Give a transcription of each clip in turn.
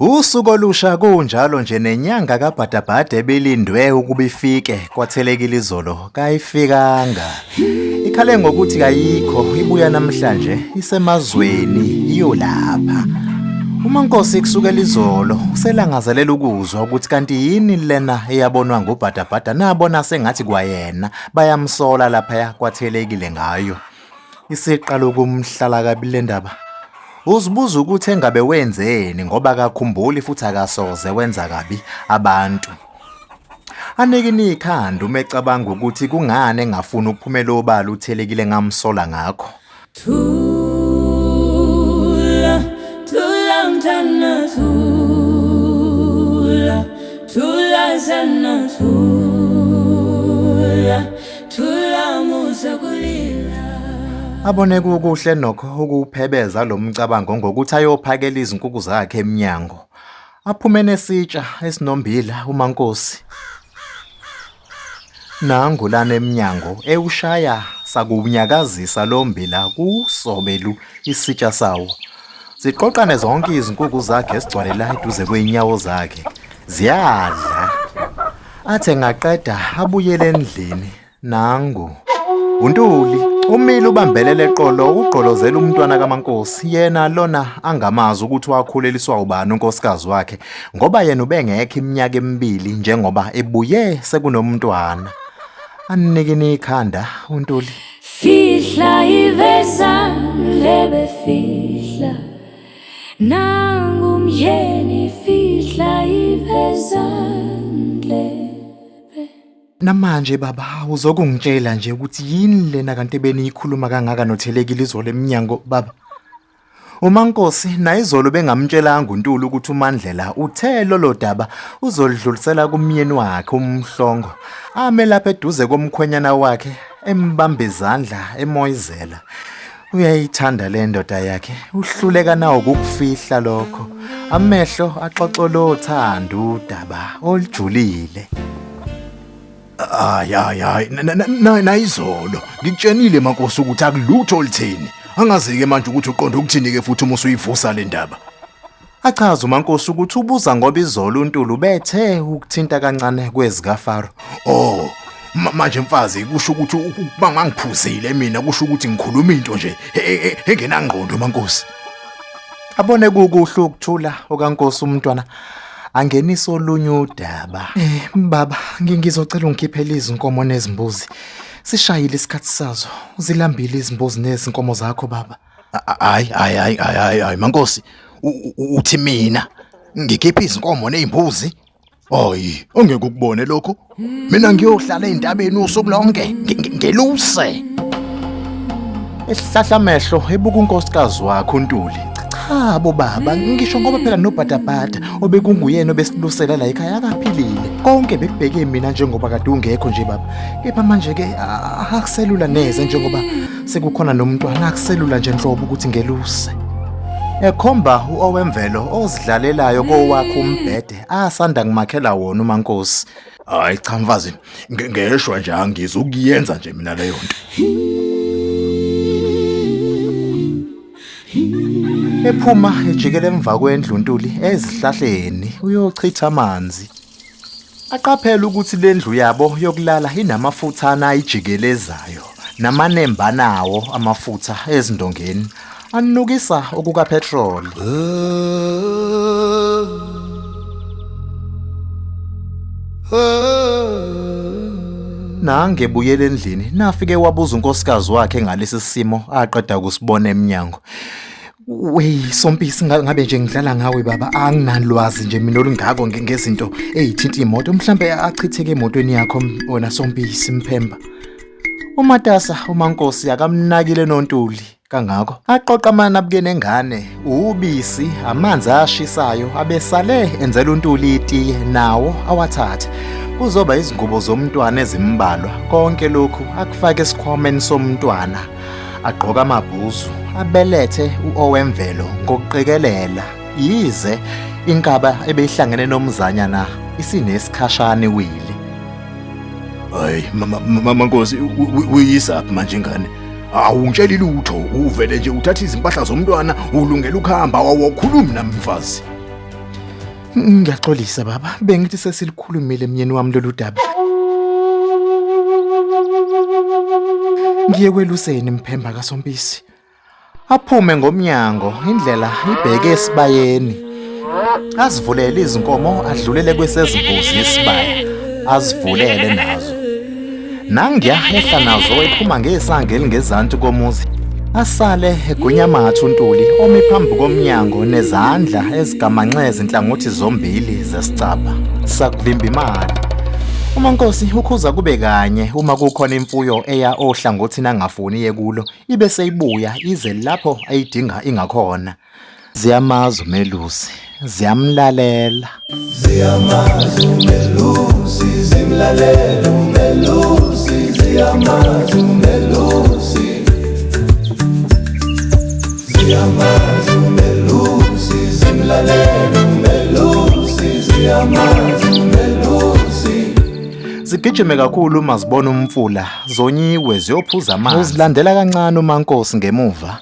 Usuku olusha kunjalo nje nenyanga kabhadabhada ebilindwe ukuba ifike kwathelekile izolo kayifikanga. Ikhale ngokuthi kayikho ibuya namhlanje isemazweni iyolapha. Uma Nkosi kusukela izolo uselangazelela ukuzwa ukuthi kanti yini lena eyabonwa ngubhadabhada nabona sengathi kwayena bayamsola lapha kwathelekile ngayo. Isiqala ukumhlala kabi le ndaba. Uzibuza ukuthi engabe wenzeni ngoba akakhumbuli futhi akasoze wenza kabi abantu. Anikini ikhanda uma ecabanga ukuthi kungani engafuni ukuphumela obala uthelekile ngamsola ngakho. Thula, thula mntana thula, thula sana thula. Abone kukuhle nokho ukuwuphebeza lo mcabango ngokuthi ayophakela izinkukhu zakhe emnyango. Aphume nesitsha esinombila uMankosi. Nangu lana emnyango ewushaya sakuwunyakazisa lo mbila kusobelu isitsha sawo. Ziqoqane zonke izinkukhu zakhe esigcwalela eduze kwey'nyawo zakhe. Ziyadla. Athe ngaqeda abuyele endlini nangu uNtuli umile ubambelele eqolo ugqolozela umntwana kaMankosi yena lona angamazi ukuthi wakhuleliswa ubani unkosikazi wakhe ngoba yena ubengekho iminyaka emibili njengoba ebuye sekunomntwana anikini ikhanda uNtuli fihla iveza lebe fihla Nangumyeni fihla ivezandle Namanje baba uzokungitshela nje ukuthi yini lena kanti beniyikhuluma kangaka nothelekile izolo eminyango baba umankosi nayizolo bengamtshelanga uNtuli ukuthi uMandlela uthe lolo daba uzolidlulisela kumyeni wakhe umhlongo ame lapha eduze komkhwenyana wakhe embamba izandla emoyizela uyayithanda le ndoda yakhe uhluleka nawo kukufihla lokho amehlo axoxolothanda udaba olujulile hayi hayi hayi nayizolo ngikutshenile makosi ukuthi akulutho olutheni angazi-ke manje ukuthi uqonda ukuthini-ke futhi uma usuyivusa le ndaba Achaza uMankosi ukuthi ubuza ngoba izolo uNtulu bethe ukuthinta kancane kwezikaFaro. Oh, ma- manje mfazi kusho ukuthi u- u- uma ngangiphuzile mina kusho ukuthi ngikhuluma into nje e- e- e- engenangqondo maNkosi. Abone kukuhle ukuthula okaNkosi umntwana angenisa olunye udaba. Eh baba ngi- ngizocela ungikhiphele izinkomo nezimbuzi. Sishayile isikhathi sazo. Uzilambile izimbuzi nezinkomo zakho baba. Hayi hayi hayi hayi hayi mankosi uthi mina ngikhipha izinkomo nezimbuzi Hayi, ongeke ukubone lokho. Mina ngiyohlala ezintabeni usuku lonke, ngeluse. Esihlahla amehlo ebuka unkosikazi wakhe uNtuli. Cha bo baba, ngisho ngoba phela nobhatabhata obekunguyena obesilusela la ekhaya akaphilile. Konke bekubheke mina njengoba kade ungekho nje baba. Kepha manje ke akuselula neze njengoba sekukhona nomntwana akuselula nje nhlobo ukuthi ngeluse ekhomba uowemvelo ozidlalelayo kowakhe umbhede asanda kumakhela wona umankosi hayi cha mfazi nge- ngeshwa nje angizukuyenza nje mina leyo nto ephuma ejikela emva kwendlu untuli ezihlahleni uyochitha amanzi Aqaphela ukuthi le ndlu yabo yokulala inamafuthana ayijikelezayo namanembana awo amafutha ezindongeni anukisa okukaphethroli. Nange buyele endlini nafike wabuza unkosikazi wakhe ngalesi simo aqeda ukusibona eminyango. Wey Sompisi ngabe nje ngidlala ngawe baba anginalwazi nje mina olungako ngezinto ezithinta imoto mhlambe achitheke emotweni yakho wena Sompisi mphemba Umatasa umankosi akamnakile nontuli kangako aqoqa amana buke nengane ubisi amanzi ashisayo abesale enzela untuli itiye nawo awathathe kuzoba izingubo zomntwana ezimbalwa konke lokhu akufake esikhwameni somntwana agqoka amabhuzu abelethe uowemvelo ngokuqikelela yize inkaba ebeyihlangene nomzanyana isinesikhashana iwili hayi mama nkosi uyisaphi manje ngane awungitsheli lutho uvele nje uthatha izimpahla zomntwana ulungela ukuhamba wawokhulumi nami mfazi Ngiyaxolisa baba, bengithi sesilikhulumile emnyeni wami lolu daba. Ngiye kweluseni mphemba kaSompisi. Aphume ngomnyango, indlela ibheke esibayeni. Azivulele izinkomo adlulele kwesezimbuzi isibaya. Azivulele nazo. nangiyahehla nazo ephuma ngesanga elingezansi komuzi asale egwinyamatha uNtuli omi phambi komnyango nezandla ezigamanxe ezinhlangothi zombili zesicabha sakuvimba imali uMankosi ukhuza kube kanye uma kukhona imfuyo eya ohlangothini angafuni yekulo ibe seyibuya ize lapho ayidinga ingakhona Ziyamazi umelusi, ziyamlalela. Ziyamazi umelusi, zimlalela umelusi, ziyamazi umelusi. Ziyamazi umelusi, zimlalela umelusi, ziyamazi umelusi. Zigijime kakhulu uma zibona umfula, zonyiwe ziyophuza amanzi. Uzilandela kancane uMankosi ngemuva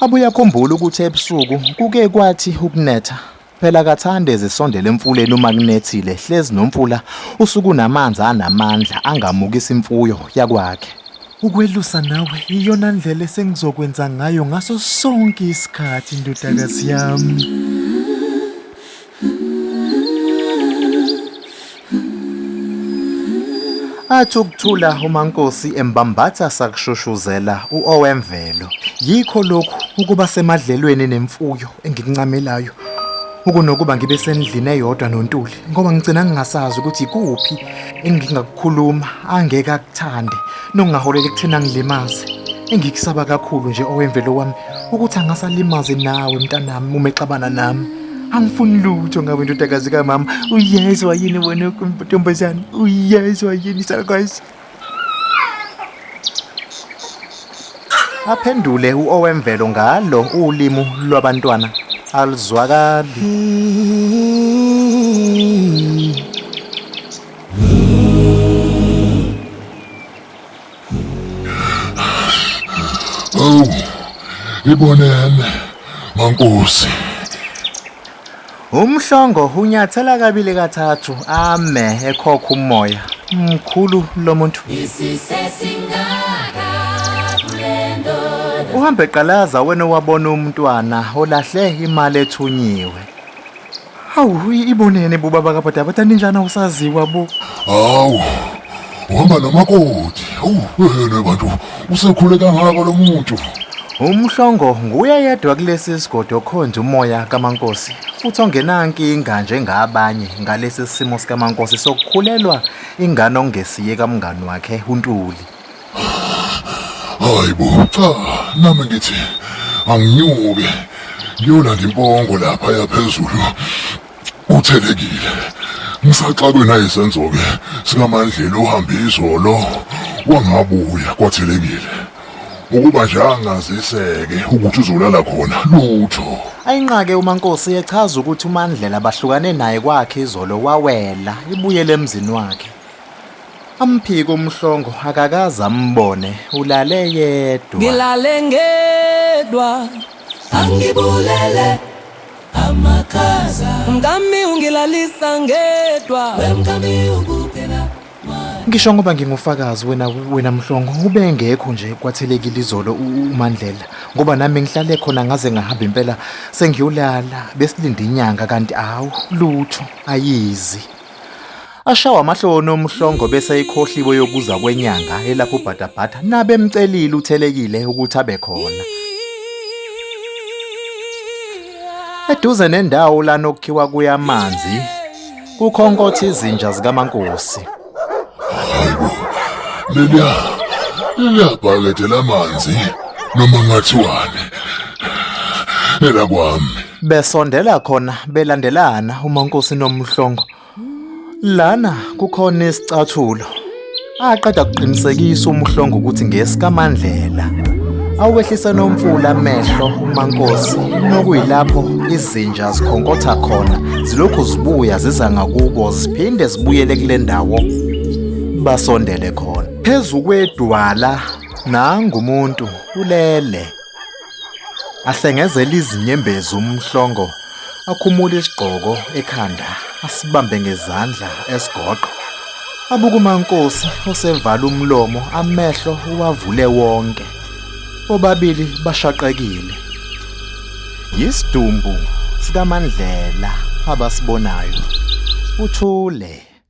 Abuye akhumbule ukuthi ebusuku kuke kwathi ukunetha phela kathande ezisondela emfuleni uma kunethile hlezi nomfula usuku namanzi anamandla angamukisa imfuyo yakwakhe ukwelusa nawe iyona ndlela esengizokwenza ngayo ngaso sonke isikhathi ndodakazi yami Athi ukuthula uMankosi embambatha sakushushuzela uOwemvelo. Yikho lokhu ukuba semadlelweni nemfuyo engikuncamelayo. Ukunokuba ngibe sendlini eyodwa noNtuli ngoba ngigcina ngingasazi ukuthi kuphi engingakukhuluma angeke akuthande nokungaholela ekuthina ngilimaze. Engikusaba kakhulu nje Owemvelo wami ukuthi angasalimazi nawe mntanami uma exabana nami angifuni lutho ngabe indodakazi kamama uyezwa yini wena ntombazane uyezwa yini salukwazi aphendule uowemvelo ngalo ulimu lwabantwana aluzwakali Awu, ibonene, mankosi. Umhlongo unyathela kabili kathathu ame ekhokha umoya. Mkhulu lo muntu. Uhambe qalaza wena owabona umntwana olahle imali ethunyiwe. Hawu i- ibonene bo baba kabhuti abathanda injana usaziwa bo. Hawu, uhamba namakoti. Hawu, wena bantu, usekhule kangaka lo muntu. Umhlongo nguye yedwa kulesi sigodi okhonza umoya kaMankosi futhi ongenankinga njengabanye ngalesi simo sikaMankosi sokukhulelwa ingane okungesiye kamngani wakhe uNtuli. hayi bo cha nami ngithi anginyuke ngiyolanda impongo lapha yaphezulu uthelekile ngisaxakwe nayisenzo-ke sikamandlela uhambe izolo wangabuya kwathelekile ukuba nje angaziseke ukuthi uzolala khona lutho ayinqake umankosi echaza ukuthi umandlela bahlukane naye kwakhe izolo wawela ibuyele emzini wakhe Amphike umhlongo akakaze ambone ulale yedwa. Ngilale ngedwa angibulele amakhaza. Mkami ungilalisa ngedwa. We mkami ukupela mali. Ngisho ngoba ngingufakazi wena wena mhlongo ubengekho nje kwathelekile izolo u- uMandlela ngoba nami ngihlale khona ngaze ngahamba impela sengiyolala besilinde inyanga kanti awu lutho ayizi. Ashawa amahloni omhlongo bese ayikhohliwe yokuza kwenyanga elapha ubhatabhata nabemcelile uthelekile ukuthi abe khona. Eduze nendawo lana okukhiwa kuya amanzi kukhonkotha izinja zikamankosi. Leliya leliya bhakede lamanzi noma ngathiwani elakwami Besondela khona belandelana uMankosi noMhlongo. Lana kukhona isicathulo. Aqeda kuqinisekisa uMhlongo ukuthi ngesikaMandlela. Awehlisa nomfula amehlo uMankosi nokuyilapho izinja zikhonkotha khona zilokhu zibuya ziza ngakubo ziphinde zibuyele kule ndawo basondele khona. Phezu kwedwala nangumuntu ulele. Ahlengezela izinyembezi umhlongo akhumula isigqoko ekhanda asibambe ngezandla esigoqo abuka umankosi osevala umlomo amehlo uwavule wonke bobabili bashaqekile yisidumbu sikamandlela abasibonayo uthule